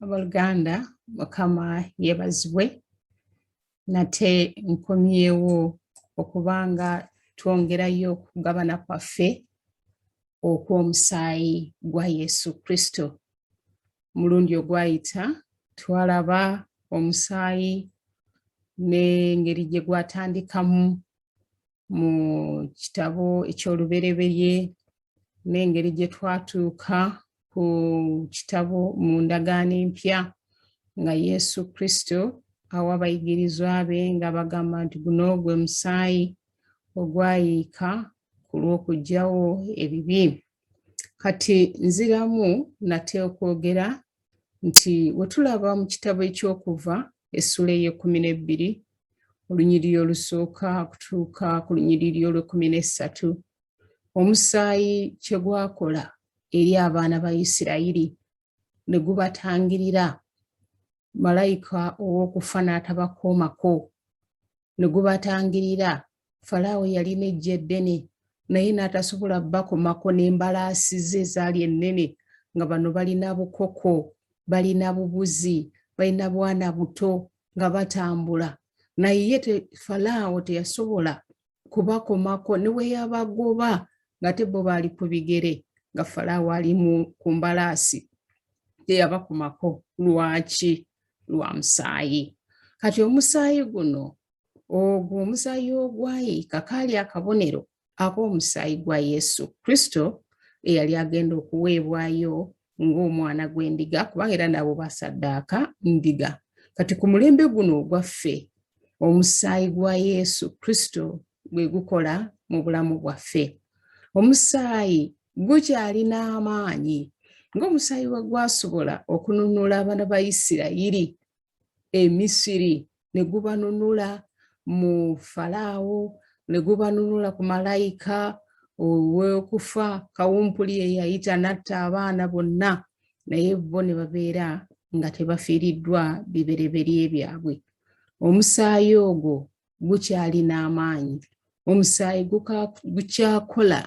aboluganda mukama yebazibwe nate nkomyewo okubanga twongerayo okugabana kwaffe okw'omusaayi gwa yesu kristo mulundi ogwayita twalaba omusaayi n'engeri gye gwatandikamu mu kitabo eky'olubereberye n'engeri gye twatuuka ku kitabo mu ndagaano empya nga yesu kristo awa abayigirizwa be nga bagamba nti guno gwe musaayi ogwayiika ku lw'okugyawo ebibi kati nziramu nate okwogera nti wetulaba mu kitabo ekyokuva essula ey'ekkumi n'ebbiri olunyiriri olusooka kutuuka ku lunyiriri olw'ekkumi n'essatu omusaayi kye gwakola eri abaana ba isirayiri ne gubatangirira malayika ow'okufa n'atabakoomako ne gubatangirira falaawo yalina eggye eddene naye n'atasobola bakomako n'embalaasi ze ezaali ennene nga bano balina bukoko balina bubuzi balina bwana buto nga batambula naye ye falaawo teyasobola kubakomako ne we yabagoba ng'ate bo baali ku bigere nga falaawo ali ku mbalaasi teyabakomako lwaki lwa musaayi kati omusaayi guno ogwo omusaayi ogwayiika kaali akabonero ak'omusaayi gwa yesu kristo eyali agenda okuweebwayo ng'omwana gw'endiga kubanga era nabo basaddaaka ndiga kati ku mulembe guno ogwaffe omusaayi gwa yesu kristo gwe gukola mu bulamu bwaffe omusaayi gukyalina amaanyi ng'omusaayi we gwasobola okununula abaana ba isirayiri e misiri ne gubanunula mu falaawo ne gubanunula ku malayika ow'okufa kawumpuli eyayita natta abaana bonna naye bo ne babeera nga tebafiiriddwa bibereberye byabwe omusaayi ogwo gukyalina amaanyi omusaayi gukyakola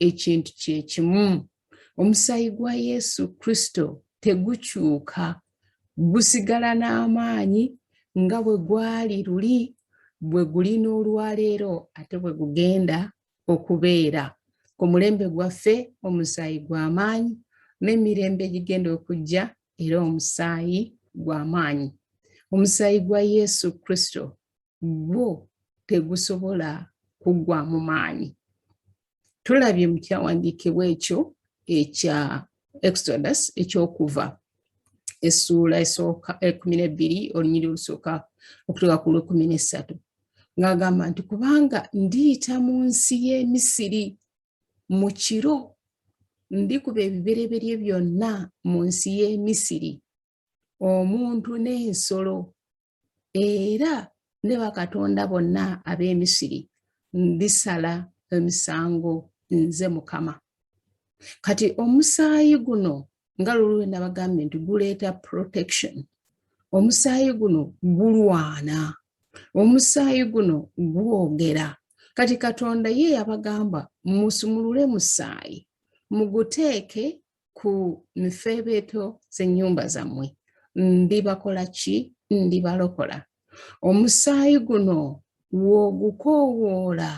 ekintu kyekimu omusaayi gwa yesu kristo tegukyuka gusigala n'amaanyi nga bwe gwali luli bwe guli n'olwaleero ate bwe gugenda okubeera ku mulembe gwaffe omusaayi gw'amaanyi n'emirembe egigenda okujja era omusaayi gw'amaanyi omusaayi gwa yesu kristo gwo tegusobola kuggwamu maanyi tulabye mu kyawandiikibwa ekyo ekya exodus ekyokuva essuula esooka ekumi nebbiri olunyiri olusooka okutuuka ku lwekumi nessatu ng'agamba nti kubanga ndiyita mu nsi y'e misiri mu kiro ndikuba ebibereberye byonna mu nsi y'e misiri omuntu n'ensolo era ne bakatonda bonna ab'emisiri ndisala emisango nze mukama kati omusaayi guno nga lulwe nabagambye nti guleeta protection omusaayi guno gulwana omusaayi guno gwogera kati katonda ye yabagamba musumulule musaayi muguteeke ku mifeebeeto z'ennyumba zammwe ndibakola ki ndibalokola omusaayi guno w'ogukoowoola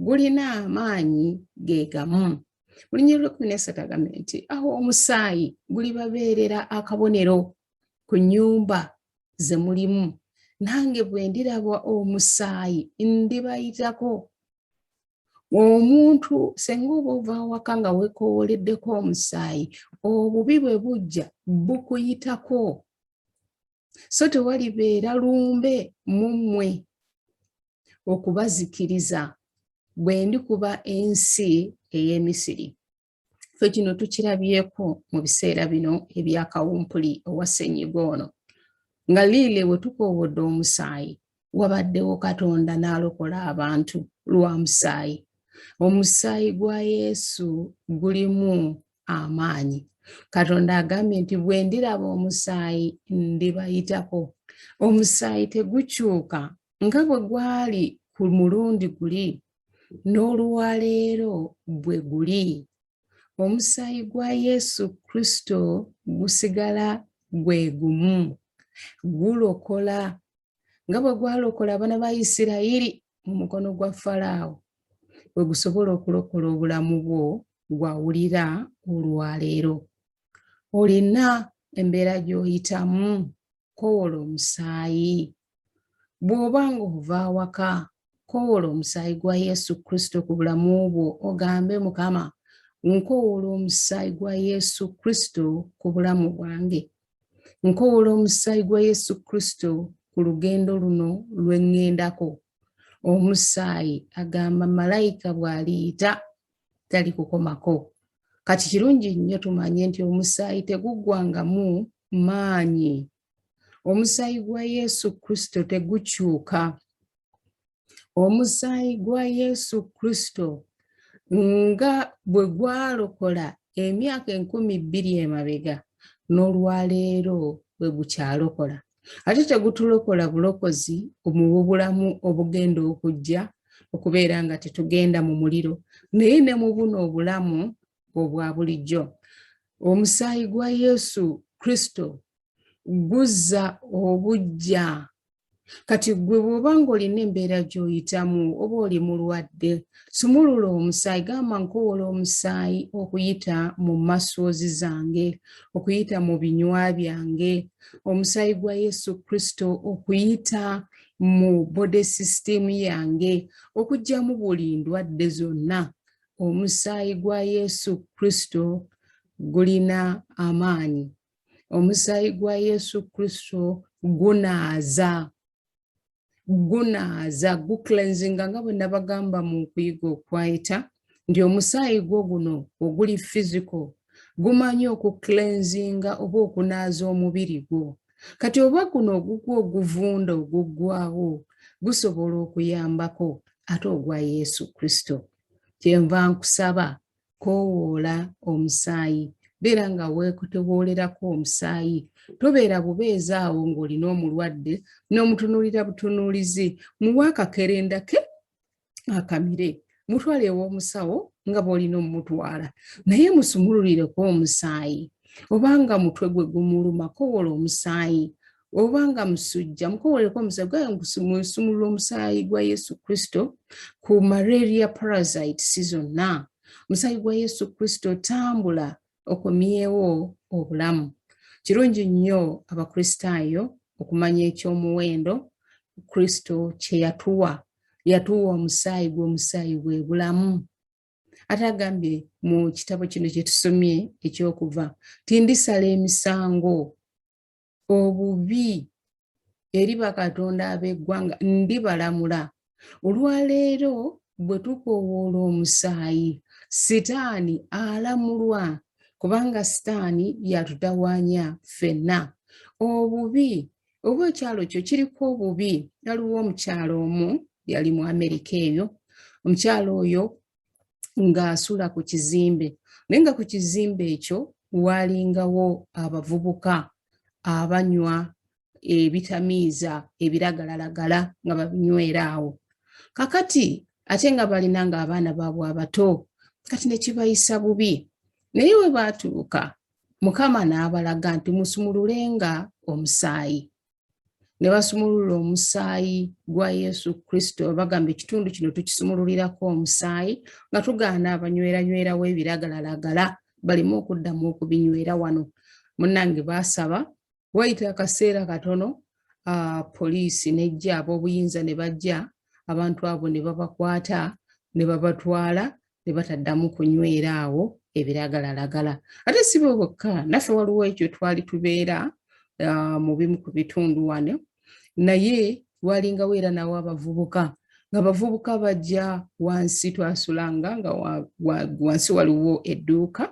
gulina amaanyi ge gamu mulinya olwekumi nesatu agambye nti awo omusaayi gulibabeerera akabonero ku nnyumba ze mulimu nange bwe ndiraba omusaayi ndibayitako omuntu senga oba ova awaka nga wekowoleddeko omusaayi obubi bwe bujja bukuyitako so tewalibeera lumbe mu mmwe okubazikiriza bwe ndikuba ensi ey'emisiri fe kino tukirabyeko mu biseera bino ebyakawumpuli owa ssenyiga ono nga liile we tukoowodde omusaayi wabaddewo katonda n'alokola abantu lwa musaayi omusaayi gwa yesu gulimu amaanyi katonda agambye nti bwe ndiraba omusaayi ndibayitako omusaayi tegukyuka nga bwe gwali ku mulundi guli n'oluwaleero bwe guli omusaayi gwa yesu kristo gusigala gwe gumu gulokola nga bwe gwalokola abana ba isirayiri mu mukono gwa falaawo bwe gusobola okulokola obulamu bwo gwawulira olwaleero olina embeera gy'oyitamu kowoola omusaayi bw'oba ng'ova awaka kowoola omusaayi gwa yesu kristo ku bulamu bwo ogambe mukama nkowoola omusaayi gwa yesu kristo ku bulamu bwange nkowoola omusaayi gwa yesu kristo ku lugendo luno lwe ŋŋendako omusaayi agamba malayika bw'aliyita tali kukomako kati kirungi nnyo tumanye nti omusaayi teguggwangamu maanyi omusaayi gwa yesu kristo tegukyuka omusaayi gwa yesu kristo nga bwe gwalokola emyaka enkumi bbiri emabega n'olwaleero bwe gukyalokola ate tegutulokola bulokozi omububulamu obugenda okujja okubeera nga tetugenda mu muliro naye ne mu buno obulamu obwa bulijjo omusaayi gwa yesu kristo guzza obujja kati gwe bwoba ngaolina embeera gyoyitamu oba oli mulwadde sumulula omusaayi gamba nkowola omusaayi okuyita mu masoozi zange okuyita mu binywa byange omusaayi gwa yesu kristo okuyita mu body system yange okugyamu buli ndwadde zonna omusaayi gwa yesu kristo gulina amaanyi omusaayi gwa yesu kristo gunaaza gunaaza guclenzinga nga bwe nabagamba mu kuyiga okwayita nti omusaayi gwo guno oguli fiziko gumanyi okuclenzinga oba okunaaza omubiri gwo kati oba guno ogugwa oguvunda oguggwawo gusobola okuyambako ate ogwa yesu kristo kyenva nkusaba koowoola omusaayi beera nga weekutewoolerako omusaayi tobeera bubeezi awo ng'olina omulwadde n'omutunuulira butunuulizi muwa akakerenda ke akamire mutwale ew'omusawo nga bw'olina omumutwala naye musumululireko omusaayi obanga mutwe gwe gumuluma kowoola omusaayi obanga musujja mukowoleko omusaayi gwaye munsumulula omusaayi gwa yesu kristo ku malaria parasite si zonna omusaayi gwa yesu kristo tambula okomyewo obulamu kirungi nnyo abakristaayo okumanya ekyomuwendo kristo kyeyatuwa yatuwa omusaayi gwomusaayi bwe bulamu ate agambye mu kitabo kino kyetusomye ekyokuva tindisala emisango obubi eri bakatonda ab'eggwanga ndibalamula olwaleero bwe tukowoola omusaayi sitaani alamulwa kubanga sitaani yatutawaanya ffenna obubi oba ekyalo kyo kiriko obubi yaliwo omukyalo omu yali mu amerika eyo omukyalo oyo ng'asula ku kizimbe naye nga ku kizimbe ekyo waalingawo abavubuka abanywa ebitamiiza ebiragalalagala nga babinywera awo kakati ate nga balina ng'abaana baabwe abato kati ne kibayisa bubi naye we baatuuka mukama n'abalaga nti musumululenga omusaayi ne basumulula omusaayi gwa yesu kristo bagamba ekitundu kino tukisumululirako omusaayi nga tugaana abanyweranywerawo ebiragalalagala balimu okuddamu okubinywera wano munange baasaba wayita akaseera katono uh, poliisi nejja ab'obuyinza ne bajja abantu abo ne babakwata ne babatwala ne bataddamu kunywera awo ebiragalalagala ate si bwe bwokka naffe waliwo ekyo twali tubeera uh, mu bimu ku bitundu wano naye walingawo era nawo abavubuka nga bavubuka bajja wansi twasulanga nga wansi waliwo edduuka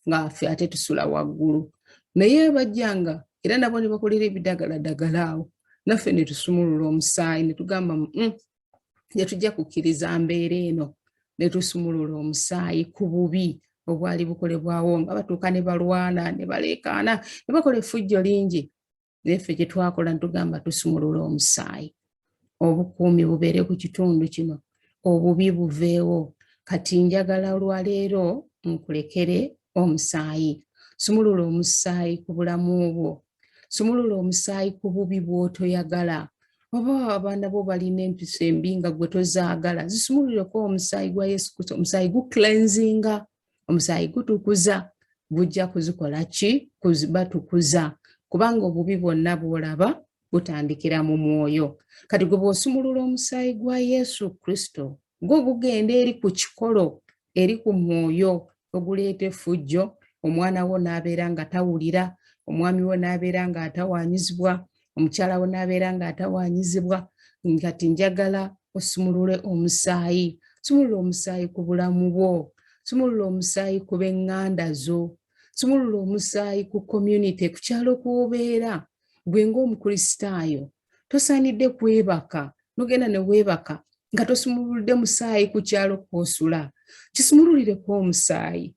nga ffe ate tusula waggulu naye bajjanga era nabo ne bakolera ebidagaladagala awo naffe ne tusumulula omusaayi ne tugamba mm, ne tujja kukkiriza mbeera eno ne tusumulula omusaayi ku bubi obwali bukolebwawo nga batuuka ne balwana ne baleekaana ne bakola effujjo lingi naye ffe kye twakola ne tugamba tusumulula omusaayi obukuumi bubeere ku kitundu kino obubi buveewo kati njagala olwaleero nkulekere omusaayi sumulula omusaayi ku bulamu bwo sumulula omusaayi ku bubi bw'otoyagala oba abaana bo balina empiso embi nga gwe tozaagala zisumululeko omusaayi gwa yesu kristo omusaayi guclenzinga omusaayi gutukuza gujja kuzikola ki batukuza kubanga obubi bwonna bwolaba butandikira mu mwoyo kati gwe bw'osumulula omusaayi gwa yesu kristo gwo gugenda eri ku kikolo eri ku mwoyo oguleeta effujjo omwana wo n'abeera nga tawulira omwami wo n'abeera nga atawanyizibwa omukyala wo n'abeera nga atawanyizibwa ngati njagala osumulule omusaayi sumulula omusaayi ku bulamu bwo sumulula omusaayi ku b'eŋŋanda zo sumulula omusaayi ku community ku kyalo kw'obeera gwe ng'omukristaayo tosaanidde kwebaka nogenda ne weebaka nga tosumululidde musaayi ku kyalo kwosula kisumululireko omusaayi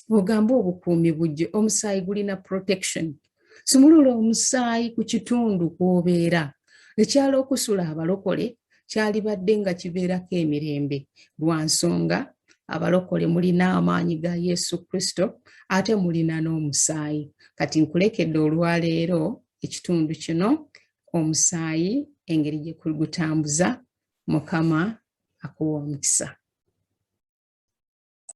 ogamba obukuumi bujje omusaayi gulina protection sumulula omusaayi ku kitundu kwobeera ekyalo okusula abalokole kyalibadde nga kibeerako emirembe lwa nsonga abalokole mulina amaanyi ga yesu kristo ate mulina n'omusaayi kati nkulekedde olwaleero ekitundu kino omusaayi engeri gye gutambuza mukama akuwa omukisa